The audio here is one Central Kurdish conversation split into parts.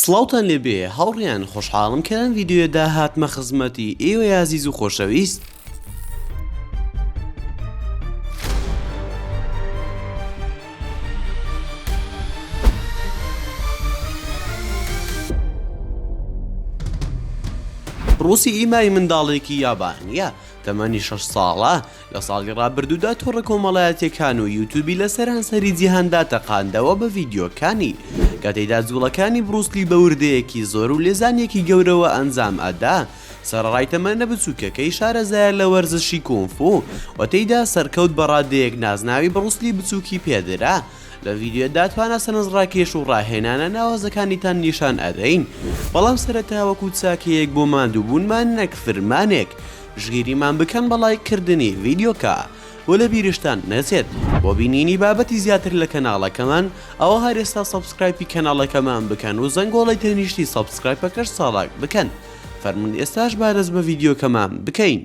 سڵاوتان لێ بێ هاوڕێیان خۆشحاڵم کە لەم ڤیدیۆیەدا هاتمە خزمەتی ئێوەی ئازیز و خۆشەویست، ڕووسی ئیمای منداڵێکی یابانییە تەمەنی شەش ساڵە، لە ساڵی ڕابردوودا تۆڕە کۆمەڵایەتیەکان و یوتوبی لە سەرانسەری جیهاندا تەقاندەوە بە ڤیدیۆکانی کە تێدا جوڵەکانی بڕوسلی بە وردەیەکی زۆر و لێزانێکی گەورەوە ئەنجام ئەدا سەرڕای تەمەنە بچووکەکەی شارەزایە لە وەرزشی کۆنفو و تێدا سەرکەوت بە ڕادەیەک نازناوی بڕوسلی بچووکی پێدرا لە ڤیددیۆدا توانە سەنز ڕاکێش و ڕاهێنانە ناوازەکانیتان نیشان ئەدەین بەڵام سەرەتاوەکو چاکەیەک بۆ ماندووبوونمان نەک فرمانێک پشگیریمان بکەن بە ڵایک کردنی ڤیدیۆکە و لە بیرشتان نەچێت بۆ بینینی بابەتی زیاتر لە کەناڵەکەمان ئەوە هەر ئێستا سەبسکرایپی کەناڵەکەمان بکەن و زەنگۆڵەی تەنیشتی سەبسکرایپەکەش چاڵاک بکەن فەرموون ئێستاش با دەست بە ڤیدیۆکەمان بکەین.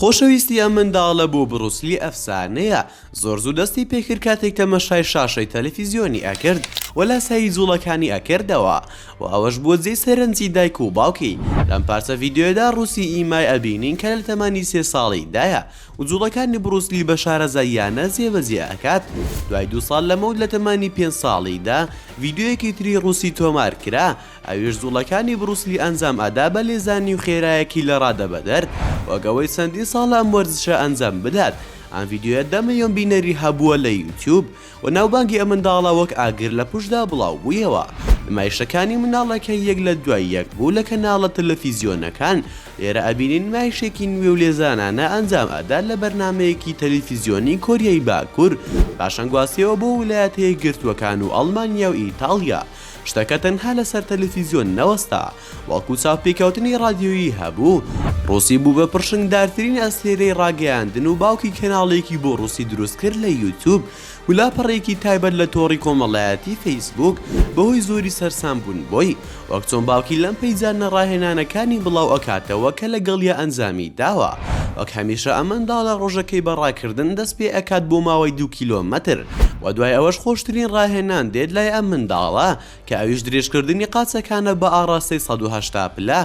خۆشەویستی ئەم منداڵە بۆ بروس لی ئەفسانەیە، زۆر زوو دەستی پێکرد کاتێک تەمەشای شاشەی تەلەفیزیۆنی ئەکرد و لاسایی جوڵەکانی ئەکردەوە و ئەوەش بووە جێی سەرنجی دایک و باوکی، لەم پارچە ڤیدیۆیەدا روسی ئیمای ئەبینین کە لە تەمەنی سێ ساڵیدایە و جوڵەکانی بروس لی بە شارەزاییانە جێبەجێ ئەکات، دوای دوو ساڵ لەمەود لە تەمەنی پێنج ساڵیدا ڤیدیۆیەکی تری روسی تۆمارکرا ئەویش زوڵەکانی بروس لی ئەنجام ئەدا بە لێزانی و خێرایەکی لە ڕادە بەدەر وەک ئەوەی چەندین ساڵە ئەم وەرزشە ئەنجام بدات ئەم ڤیدیۆیە دە ملیۆن بینەری هەبووە لە یوتیوب و ناوبانگی ئەم منداڵە وەک ئاگر لە پشتدا بڵاو بوویەوە نمایشەکانی منداڵەکە یەک لە دوای یەک بوو لە کەناڵە تەلەفیزیۆنەکان لێرە ئەبینین نمایشێکی نوێ و لێزانانە ئەنجام ئەدات لە بەرنامەیەکی تەلیفیزیۆنی کۆریای باکور پاشان گواستیەوە بۆ ولایەتە یەکگرتووەکان و ئەڵمانیا و ئیتاڵیا شتەکە تەنها لەسەر تەلەفیزیۆن نەوەستا، بەڵکو چاوپێکەوتنی ڕادیۆیی هەبوو، ڕوسی بوو بە پڕشنگدارترین ئەستێرەی ڕاگەیاندن و باوکی کەناڵێکی بۆ ڕوسی دروستکرد لە یوتوب و لاپەڕەیەکی تایبەت لە تۆڕی کۆمەڵایەتی فەیسبووک بەهۆی زۆری سەرسامبوون بۆی وەک چۆن باوکی لەم پەیجانە ڕاهێنانەکانی بڵاو ئەکاتەوە کە لەگەڵیا ئەنجامی داوە وەک هەمیشە ئەمەنداڵە ڕۆژەکەی بە ڕاکردن دەست پێ ئەکات بۆ ماوەی دوو کیلۆمەتر وە دوای ئەوەش خۆشترین ڕاهێنان دێت لای ئەم منداڵە کە ئەویش درێژکردنی قاچەکانە بە ئاڕاستەی سەد و هەشتا پلە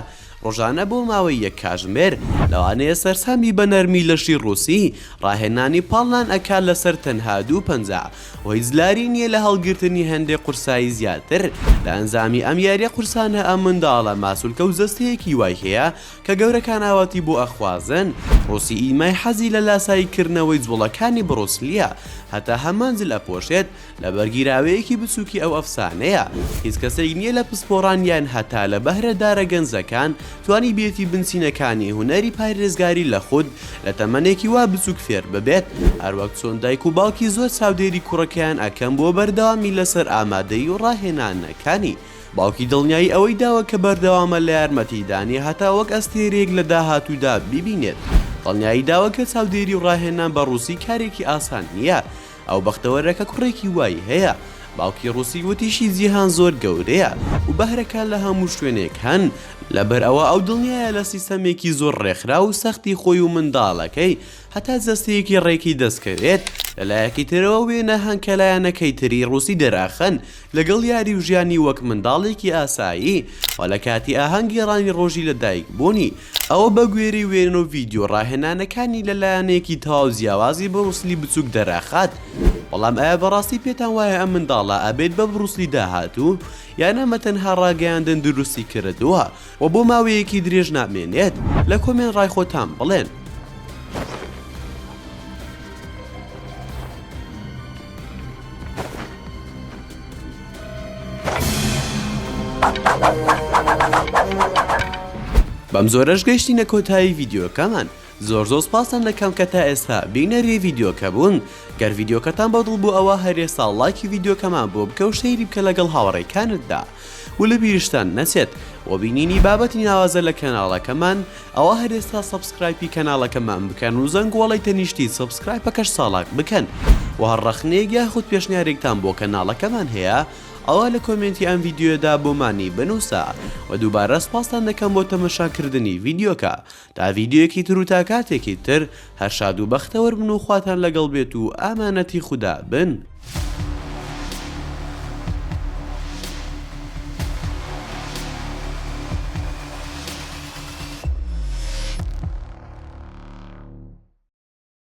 ڕۆژانە بۆ ماوەی یەک کاژمێر لەوانەیە سەرسامی بە نەرمی لەشی ڕووسی ڕاهێنانی پاڵنان ئەکات لەسەر تەنها دوو پەنجە و هیچ لاری نییە لە هەڵگرتنی هەندێک قورسایی زیاتر لە ئەنجامی ئەم یاریە قورسانە ئەم منداڵە ماسولکە و جەستەیەکی وای هەیە کە گەورەکانئاواتی بۆ ئەخوازن ڕوسی ئیمای حەزی لە لاسایی کردنەوەی جوڵەکانی بڕوسلیە هەتا هەمان جل ئەپۆشێت لەبەر گیراوەیەکی بچوکی ئەو ئەفسانەیە هیچ کەسێک نیە لە پسپۆڕان یان هەتا لە بەهرە دارە گەنجەکان توانی بێتی بنچینەکانی هونەری پاریزگاری لە خود لە تەمەنێکی وا بچوک فێر ببێت هەروەک چۆن دایک و باوکی زۆر چاودێری کوڕەکەیان ئەکەن بۆ بەردەوامی لەسەر ئامادەی و ڕاهێنانەکانی. باوکی دڵنیایی ئەوەی داوە کە بەردەوامە لە یارمەتیدانی هەتا وەک ئەستێرەیەک لە داهاتوودا بیبینێت، دڵنیایی داوە کە چاودێری و ڕاهێنان بە ڕووسی کارێکی ئاسان نییە، ئەو بەختەوەرە کە کوڕێکی وای هەیە، باوکی ڕووسی وتیشی جیهان زۆر گەورەیە و بەهرەکان لە هەموو شوێنێک هەن، لەبەر ئەوە ئەو دڵنیایە لە سیستەمێکی زۆر ڕێکخراو و سەختی خۆی و منداڵەکەی هەتا جەستەیەکی ڕێکی دەستکەوێت، لەلایەکی ترەوە وێنە هەنکەلایەنەکەی تری ڕووسی دەراخەن لەگەڵ یاری و ژیانی وەک منداڵێکی ئاسایی و لە کاتی ئاهەنگ گێڕانی ڕۆژی لە دایک بوونی ئەوە بە گوێرەی وێنە و ڤیدیۆ ڕاهێنانەکانی لە لایەنێکی تەواو جیاوازی بڕوس لی بچووک دەراخات بەڵام ئایا بەڕاستی پێتان وایە ئەم منداڵە ئەبێت بە بڕوس لی داهاتوو یان ئەمە تەنها ڕاگەیاندن دروستی کردووە وە بۆ ماوەیەکی درێژ نامێنێت لە کۆمێن ڕای خۆتان بڵێن. بەم زۆرەش گەشتینە کۆتایی ڤیدیۆکەمان زۆر زۆر سپاستان دەکەم کە تا ئێستا بینەری ڤیدیۆکە بوون گەر ڤیدیۆکەتان بەدڵ بوو ئەوا هەر ئێستا ڵایکی ڤیدیۆکەمان بۆ بکە و سەیری بکە لەگەڵ هاوڕێکانتدا و لە بیرشتان نەچێت بۆ بینینی بابەتی ناوازە لە کەناڵەکەمان ئەوا هەر ئێستا سەبسکرایپی کەناڵەکەمان بکەن و زەنگۆڵەی تەنیشتی سەبسکرایپەکەش چاڵاک بکەن و هەر ڕەخنەیەک یاخود پێشنیارێکتان بۆ کەناڵەکەمان هەیە ئەوا لە کۆمێنتی ئەم ڤیدیۆیەدا بۆمانی بنووسە و دووبارە سپاستان دەکەم بۆ تەمەشاکردنی ڤیدیۆکە تا ڤیدیۆیەکی تر و تا کاتێکی تر هەر شاد و بەختەوەر بن و خواتان لەگەڵ بێت و ئامانەتی خودا بن.